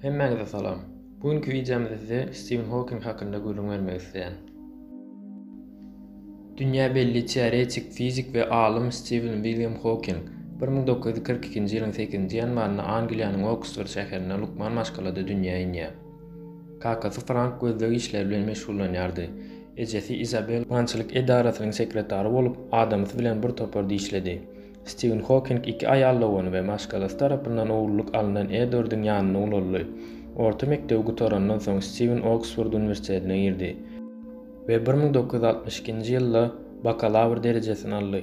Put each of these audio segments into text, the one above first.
Hemmäňize salam. Bu günki wideomyzda size Stiven Hawking hakynda gürrüň bermek isleýän. Dünýä belli teoretik fizik we alym Stiven William Hawking 1942-nji ýylyň 8-nji ýanwarynda Angliýanyň Oksford şäherinde lukman maşgalada dünýä inýär. Kakasy Frank gözleg işleri bilen meşgullanýardy. Ejesi Izabel bankyçylyk edarasynyň sekretary bolup, adamsy bilen bir toparda işledi. Stiwen Hokink iki aýal dogany we maşgalasy tarapyndan ogullyk alnan Edwardyň ýanynda ulaldy. Orta mekdebi gutarandan soň Stiwen Oksford uniwersitetine girdi we bir müň dokuz ýüz altmyş ikinji ýylda bakalawr derejesini aldy.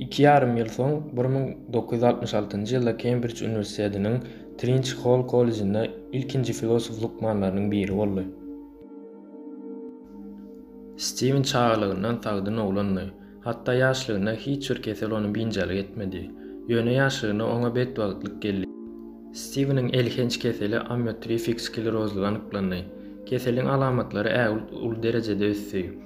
Iki ýarym ýyl soň, bir müň dokuz ýüz altmyş altynjy ýylda Kembrij uniwersitetiniň Trinç Hall kollejinde ilkinji filosof lukmanlarynyň biri boldy. Stiwen çagalygyndan sagdyn oglandy. Hatda ýaşlygynda hiç bir kesel ony biynjalyk etmedi. Ýöne ýaşlygynda oňa betbagtlyk geldi. Stiweniň elhenç keseli amiotrifik sklerozlygy anyklandy. Keseliň alamatlary ägilt uly derejede ösdi.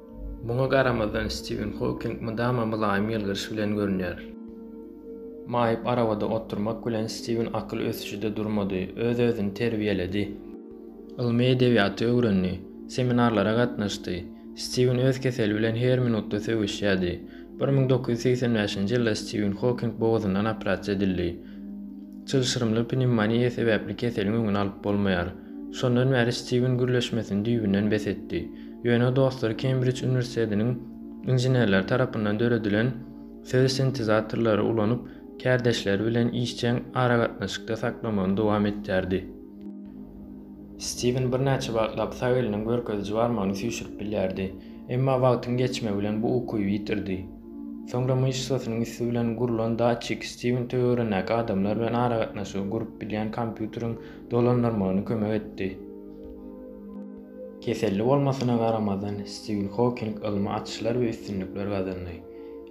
Muňa garamazdan, Stiwen Howking mydama mylaýym ýylgyryş bilen görünýär. Maýyp arabada oturmak bilen Stiwen akyl ösüşi-de durmady, öz-özüni terbiýeledi. Ylmy edebiýaty öwrendi, seminarlara gatnaşdy. Stiwen öz keseli bilen her minutda söweşýärdi. Bir müň dokuz ýüz segsen bäşinji ýylda Stiwen Howking bogazyndan operasiýa edildi. Çylşyrymly pnewmoniýa sebäpli keseliň öňüni alyp bolmaýar. Şondan bäri Stiwen gürleşmesini düýbünden bes etdi. Ýöne dostlary Kembrij uniwersitetiniň inženerleri tarapyndan döredilen söz sintezatorlary ulanyp, kärdeşleri bilen işjeň aragatnaşykda saklamagyny dowam etdirdi. Stiwen birnäçe wagtlap sag eliniň görkeziji barmagyny süýşürip bilýärdi. Emma wagtyň geçmegi bilen bu ukyby ýitirdi. Soňra myşsasynyň üsti bilen gurlan datçik Stiwen töweregindäki adamlar bilen aragatnaşygy gurup bilýän kompýuteriň dolandyrmagyny kömek etdi. Keselli bolmasyna garamazdan, Stiwen Howking ylmy açyşlar we üstünlikler gazandy.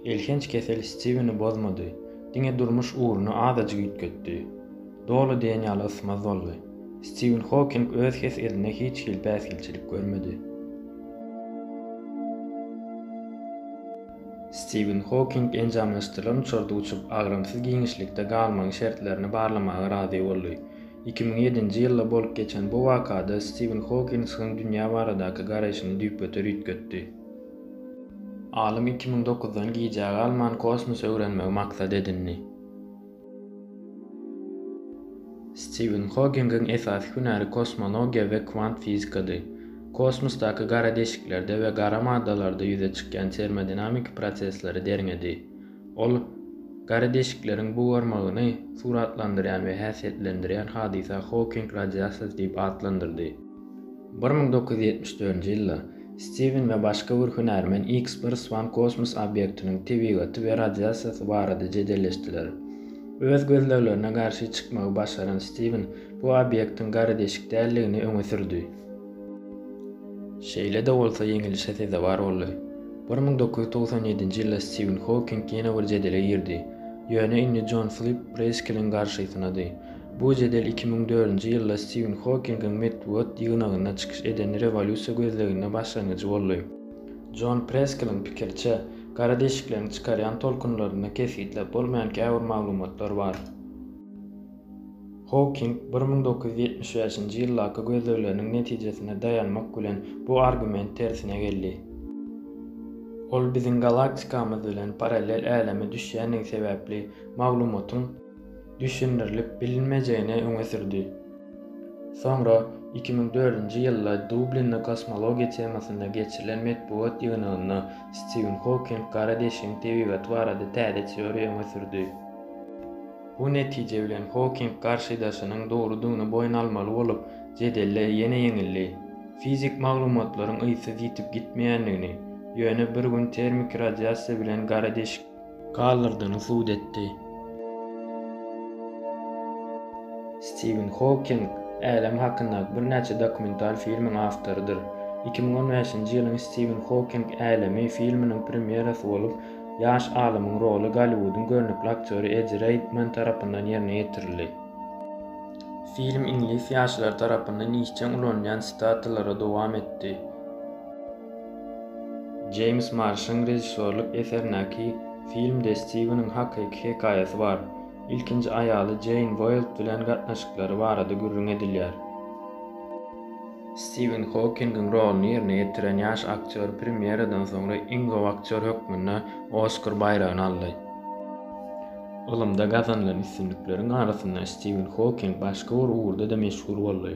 Elhenç kesel Stiweni bozmady, diňe durmuş ugruny azajyk üýtgetdi. Doly diýen ýaly ysmaz boldy. Stiwen Howking öz hes-edine hiç hili päsgelçilik görmedi. Stiwen Howking enjamlaşdyrylan uçarda uçup, agramsyz giňişlikde galmagyň şertlerini barlamaga razy boldy. Iki müň ýedinji ýylda bolup geçen bu wakada Stiwen Hokingsiň dünýä baradaky garaýşyny düýpgöter üýtgetdi. Alym iki müň dokuzdan gijä galman kosmosy öwrenmegi maksat edindi. Stiwen Hokingiň esasy hünäri kosmologiýa we kwant fizikady. Kosmosdaky gara deşiklerde we gara maddalarda ýüze çykýan termodinamiki prosesleri derňedi. Ol gara deşikleriň bugarmagyny suratlandyrýan we häsiýetlendirýän hadysa Howking radiasiýasy diýip atlandyrdy. Bir müň dokuz ýüz ýetmiş dördünji ýylda Stiwen we başga bir hünärmen X bir Swan kosmos obýektiniň tebigaty we radiasiýasy barada jedelleşdiler. Öz gözleglerine garşy çykmagy başaran Stiwen bu obýektiň gara deşik däldigini öňe sürdi. Şeýle-de bolsa ýeňilişe sezewar boldy. Bir müň dokuz ýüz togsan ýedinji ýylda Stiwen Howking ýene bir jedele girdi, ýöne indi Jon Flip Preýskeliň garşysynady. Bu jedel iki müň dördünji ýylda Stiwen Howkingiň metbugat ýygnagynda çykyş eden rewolýusiýa gözleginde başlangyjy boldy. Jon Preýskeliň pikiriçe, gara deşikleriň çykarýan tolkunlarynda kesgitläp bolmaýan käbir maglumatlar bar. Howking bir müň dokuz ýüz ýetmiş bäşinji ýyldaky gözlegleriniň netijesine daýanmak bilen bu argument tersine geldi. Ol biziň galaktikamyz bilen parallel äleme düşýändigi sebäpli maglumatyň düşündirilip bilinmejegini öňe sürdi. Soňra iki müň dördünji ýylda Dublinde kosmologiýa temasynda geçirilen metbugat ýygnagynda Stiwen Howking gara deşigiň tebigaty barada täze teoriýa öňe sürdi. Bu netije bilen Hoking garşydaşynyň dogrudygyny boýun almaly bolup, jedelde ýene ýeňildi. Fizik maglumatlaryň yzsyz ýitip gitmeýändigini, ýöne bir gün termiki radiasiýa bilen gara deşik galdyrdygyny subut etdi. Stiwen Hoking Älem hakyndaky birnäçe dokumental filmiň awtorydyr. Iki müň on bäşinji ýylyň Stiwen Hoking Älemi filminiň premýerasy bolup, Ýaş alymyň roly Golliwudyň görnükli aktýory Eddi Reýdman tarapyndan ýerine ýetirildi. Film iňlis ýaşlary tarapyndan işjeň ulanylýan sitatalara dowam etdi. Jeýms Marşyň režissýorlyk eserindäki filmde Stiweniň hakyky hekaýasy bar. Ilkinji aýaly Jeýn Woýld bilen gatnaşyklary barada gürrüň edilýär. Stiwen Howkingiň roluny ýerine ýetiren ýaş aktýor premýeradan soňra iň gowy aktýor hökmünde Oskar baýragyny aldy. Ylymda gazanylan üstünlikleriň arasynda Stiwen Howking başga bir ugurda-da meşhur boldy.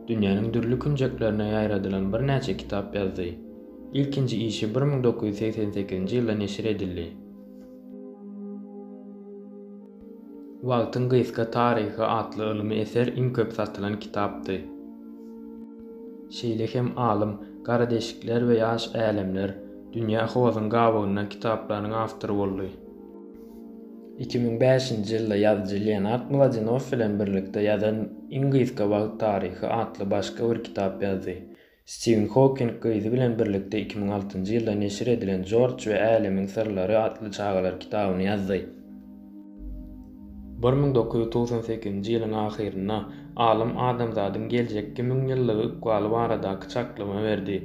Dünýäniň dürli künjeklerine ýaýradylan birnäçe kitap ýazdy. Ilkinji işi bir müň dokuz ýüz segsen sekizinji ýylda neşir edildi. Wagtyň gysga taryhy atly ylmy eser iň köp satylan kitapdy. Şeýle hem alym Gara deşikler we ýaş älemler, Dünýä hozuň gabawynda kitaplarynyň awtory boldy. Iki müň bäşinji ýylda ýazyjy Leonard Mladenow bilen birlikde ýazan Iň gysga wagt taryhy atly başga bir kitap ýazdy. Stiwen Hokking gyzy bilen birlikde iki müň altynjy ýylda neşir edilen Jorj we älemiň syrlary atly çagalar kitabyny ýazdy. Bir müň dokuz ýüz togsan sekizinji ýylyň ahyrynda alym adamzadyň geljekki müňýyllygy ykbaly baradaky çaklama berdi.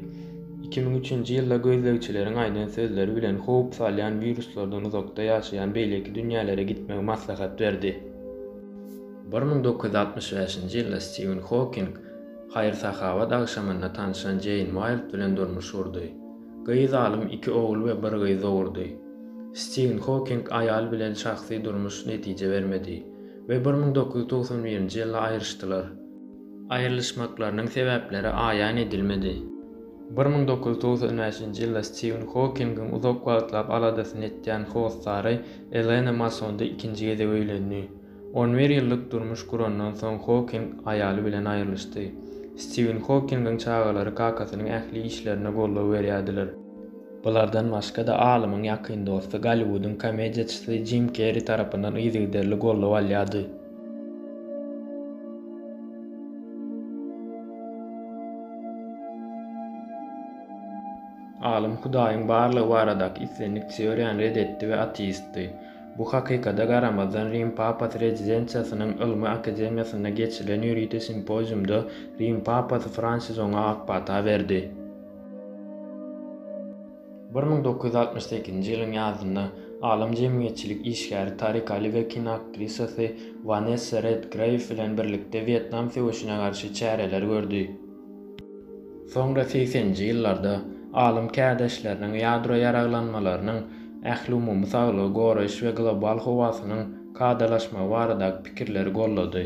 Iki müň üçünji ýylda gözlegçileriň aýdan sözleri bilen howp salýan wiruslardan uzakda ýaşaýan beýleki dünýälere gitmegi maslahat berdi. Bir müň dokuz ýüz altmyş bäşinji ýylda Stiwen Hokking Haýyr-sahawat agşamynda tanşan Jeýn Waýld bilen durmuş gurdy. Gyz alym iki ogul we bir gyz dogurdy. Stiwen Hoking aýaly bilen şahsy durmuş netije bermedi we bir müň dokuz ýüz togsan birinji ýylda aýryşdylar. Aýrylyşmaklarynyň sebäpleri aýan edilmedi. Bir müň dokuz ýüz togsan bäşinji ýylda Stiwen Hokingiň uzak wagtlap aladasyny etýän hossary Elena Masondy ikinji gezek öýlendi. On bir ýyllyk durmuş gurandan soň Hoking aýaly bilen aýrylyşdy. Stiwen Hokingiň çagalary kakasynyň ähli işlerine goldaw berýärdiler. Bulardan başga-da alymyň ýakyn dosty Golliwudyň komediýaçysy Jim Kerri tarapyndan yzygiderli goldaw alýardy. Alym Hudaýyň barlygy baradaky islendik teoriýany ret etdi we ateistdi. Bu hakykada garamazdan, Rim papasy rezidensiýasynyň ylmy akademiýasynda geçirilen ýörite simpoziumda Rim papasy Fransis oňa ak pata berdi. Bir müň dokuz ýüz altmyş sekizinji ýylyň ýazynda alym jemgyýetçilik işgäri Tarik Ali we kinoaktrisasy Wanessa Redgreýw bilen birlikde Wýetnam söweşine garşy çäreler gördi. Soňra segseninji ýyllarda alym kärdeşleriniň ýadro ýaraglanmalarynyň ähliumumy saglygy goraýyş we global howasynyň kadalaşmagy baradaky pikirleri gollady.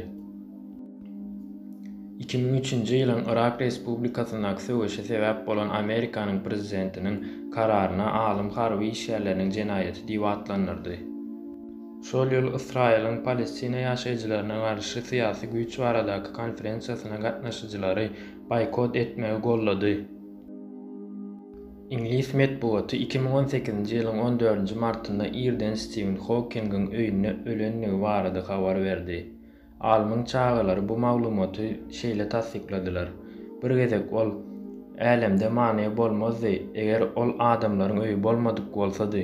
Iki müň üçünji ýylyň Yrak Respublikasyndaky söweşe sebäp bolan Amerikanyň prezidentiniň kararyna alym harby işgärleriniň jenaýaty diýip atlandyrdy. Şol ýyl Ysraýylyň Palestina ýaşaýjylaryna garşy syýasy güýç baradaky konferensiýasyna gatnaşyjylary boýkot etmegi goldady. Iňlis metbugaty iki müň on sekizinji ýylyň on dördünji martynda irden Stiwen Hokingin öýünde ölendigi barada habar berdi. Alymyň çagalary bu maglumaty şeýle tassykladylar, Bir gezek ol, Älemde many bolmazdy, eger ol adamlaryň öýi bolmadyk bolsady.